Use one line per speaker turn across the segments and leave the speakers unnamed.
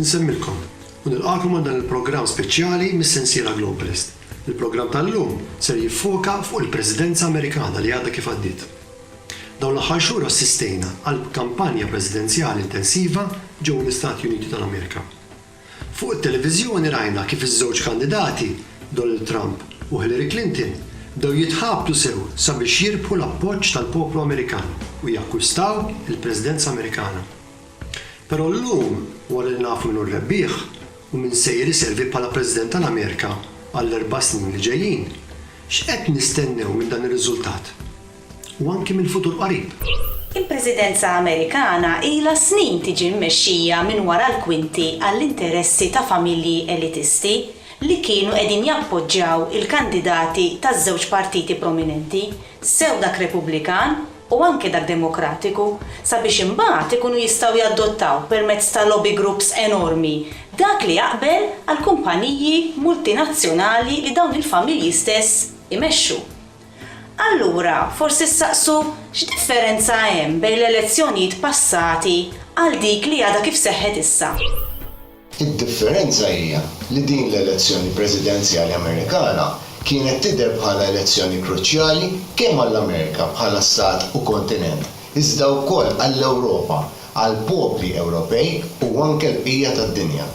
Insemmilkom u nilqagħkom għal dan il-programm speċjali mis-sensiela Globalist. Il-programm tal-lum ser jiffoka fuq il-Presidenza Amerikana li għadha kif għaddiet. Dawn l-aħħar xhur assistejna għal kampanja presidenzjali intensiva ġewwa l-Istati Uniti tal-Amerika. Fuq it-televiżjoni rajna kif iż-żewġ kandidati, Donald Trump u Hillary Clinton, bdew jitħabtu sew sabiex jirbħu l-appoġġ tal-poplu Amerikan u jakkwistaw il-Presidenza Amerikana. Però llum, wara li nafu min hu r-rebbieħ u min sejjer iservi bħala President tal-Amerika għall-erba' snin li ġejjin, x'qed nistennew minn dan ir-riżultat? u anki mill-futur qarib. Il-Presidenza Amerikana ilha snin tiġi mmexxija minn wara l-kwinti għall-interessi ta' familji elitisti li kienu qegħdin jappoġġjaw il-kandidati taż-żewġ partiti prominenti, sew dak Repubblikan u anke dak Demokratiku, sabiex imbagħad ikunu jistgħu jadottaw permezz ta' lobby groups enormi dak li jaqbel għall-kumpaniji multinazzjonali li dawn il-familji stess imexxu. Allura forsi ssaqsu x'differenza hemm bejn l-elezzjonijiet passati għal dik li għadha kif seħħet issa. Id-differenza hija li din l-elezzjoni presidenzjali Amerikana kienet tidher bħala elezzjoni kruċjali kemm għall-Amerika bħala stat u kontinent iżda wkoll għall-Ewropa, għall-popli Ewropej u anke l-bqija tad-dinja.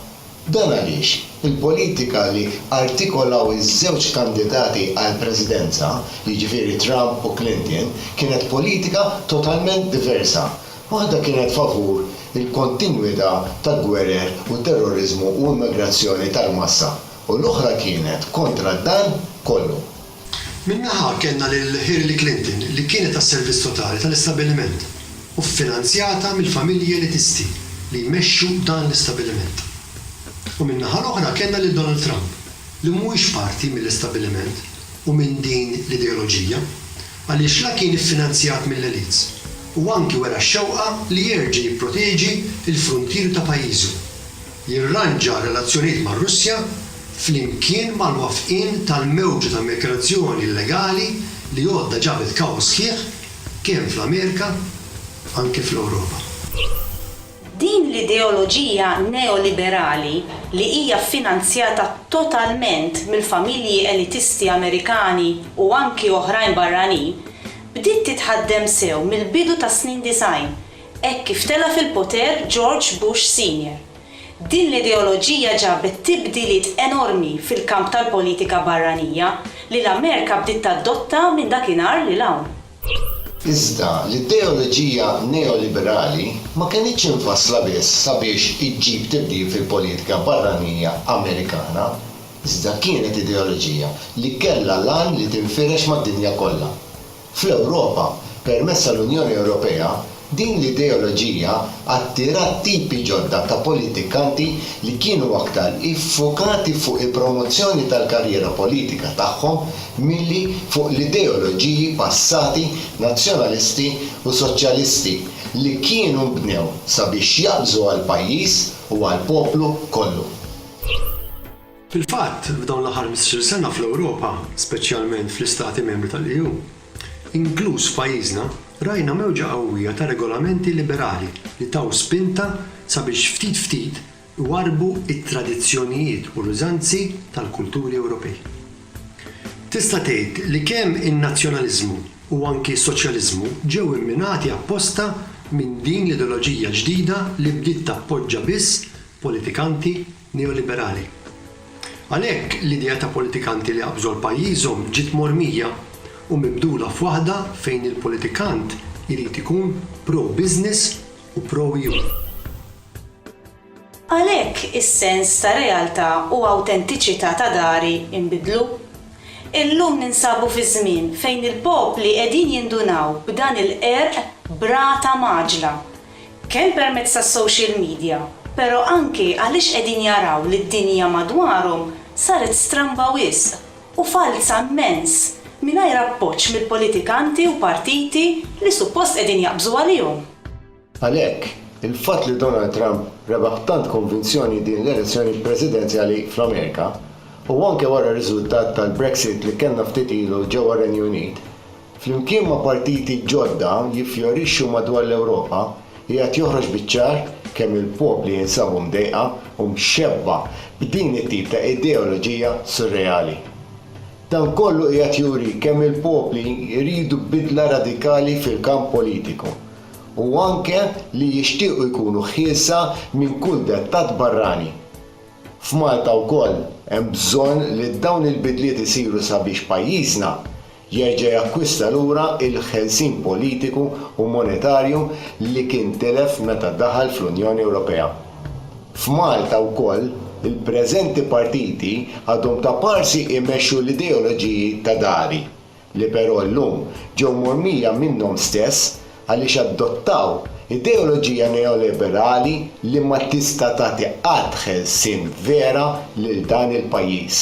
Dan għaliex il-politika li artikolaw iż-żewġ kandidati għall-Presidenza, jiġifieri Trump u Clinton, kienet politika totalment diversa. Waħda kienet favur il-kontinwità ta' gwerer u terroriżmu u immigrazzjoni tal-massa u l-oħra kienet kontra dan kollu. Minn naħa kellna lil Hillary Clinton li kienet għas-servizz totali tal-istabbiliment u ffinanzjata mill-familji elitisti li jmexxu dan l-istabbiliment. U min-naħa l-oħra kellna lil Donald Trump li mhuwiex parti mill-istabbiliment u minn din l-ideoloġija għaliex la kien iffinanzjat mill-elites u anki wera x-xewqa li jerġa' jipproteġi l-fruntieri ta' pajjiżu. jirranġa r-relazzjonijiet mar-Russja flimkien mal-wafqien tal-mewġa ta' migrazzjoni illegali li għodda ġabet kaos sħiħ kemm fl-Amerika anki fl-Ewropa. Din l-ideoloġija neoliberali li hija ffinanzjata totalment mill-familji elitisti Amerikani u anki oħrajn barranin bdiet titħaddem sew mill-bidu tas-snin disgħin hekk kif tela' fil-poter George Bush Senior. Din l-ideoloġija ġabet tibdiliet enormi fil-kamp tal-politika barranija li l-Amerika bdiet tadotta minn dakinhar 'l hawn. Iżda l-ideoloġija neoliberali ma kenitx imfassla biss sabiex iġġib tibdil fil-politika barranija Amerikana, iżda kienet ideoloġija li kellha l-għan li tinfirex mad-dinja kollha. Fl-Ewropa, permezz tal-Unjoni Ewropea, din l-ideoloġija attirat tipi ġodda ta' politikanti li kienu aktar iffukati fuq il-promozzjoni tal-karriera politika tagħhom milli fuq l-ideoloġiji passati nazzjonalisti u soċjalisti li kienu nbnew sabiex jaqbżu għall-pajjiż u għall-poplu kollu. Fil-fatt, f'dawn l-aħħar ħmistax-il sena fl-Ewropa, speċjalment fl-Istati Membri tal-EU, inkluż f'pajjiżna, rajna mewġa qawwija ta' regolamenti liberali li taw spinta sabiex ftit ftit iwarrbu t-tradizzjonijiet u l-użanzi tal-kulturi Ewropej. Tista' tgħid li kemm in-nazzjonaliżmu u anki s-soċjaliżmu ġew imminati apposta minn din l-ideoloġija ġdida li bdiet tappoġġa biss politikanti neoliberali. Għalhekk, l-idea ta' politikanti li qabżu pajjiżhom ġiet mormija u mibdula f'waħda fejn il-politikant irid ikun pro-business u pro-EU. Għalhekk is-sens ta' realtà u awtentiċità ta' dari nbidlu. Illum ninsabu fi żmien fejn il-popli qegħdin jindunaw b'dan il-qerq b'rata mgħaġġla kemm permezz tas-social media, però anke għaliex qegħdin jaraw li d-dinja madwarhom saret stramba wisq u falza mmens mingħajr appoġġ mill-politikanti u partiti li suppost qegħdin jaqbżu għalihom. Għalhekk, il-fatt li Donald Trump rebaħ b'tant konvinzjoni din l-elezzjoni presidenzjali fl-Amerika, u anke wara r-riżultat tal-Brexit li kellna ftit ilu ġewwa r-Renju Unit, flimkien ma' partiti ġodda jiffjorixxu madwar l-Ewropa, qiegħed joħroġ biċ-ċar kemm il-popli jinsabu mdejqa u mxebbha b'din it-tip ta' ideoloġija surreali. Dan kollu qiegħed juri kemm il-popli jridu bidla radikali fil-kamp politiku u anke li jixtiequ jkunu ħielsa minn kull dettat barrani. F'Malta wkoll hemm bżonn li dawn il-bidliet isiru sabiex pajjiżna jerġa' jakkwista lura l-ħelsien politiku u monetarju li kien tilef meta daħal fl-Unjoni Ewropea. F'Malta wkoll, il-preżenti partiti għadhom ta' parsi jmexxu l-ideoloġiji ta' dari, li però llum ġew mormija minnhom stess għaliex adottaw ideoloġija neoliberali li ma tista' tagħti qatt ħelsien vera lil dan il-pajjiż.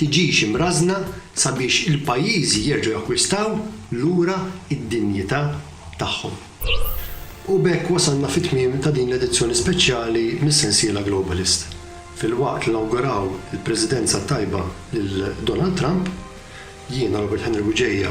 tiġix imrażżna sabiex il-pajjiżi jerġgħu jakkwistaw lura d-dinjità tagħhom. U b'hekk wasalna fit-tmiem ta' din l-edizzjoni speċjali mis-sensiela Globalist. Filwaqt li nawguraw il-Presidenza t-tajba lil Donald Trump, jiena Robert Henry Bugeja,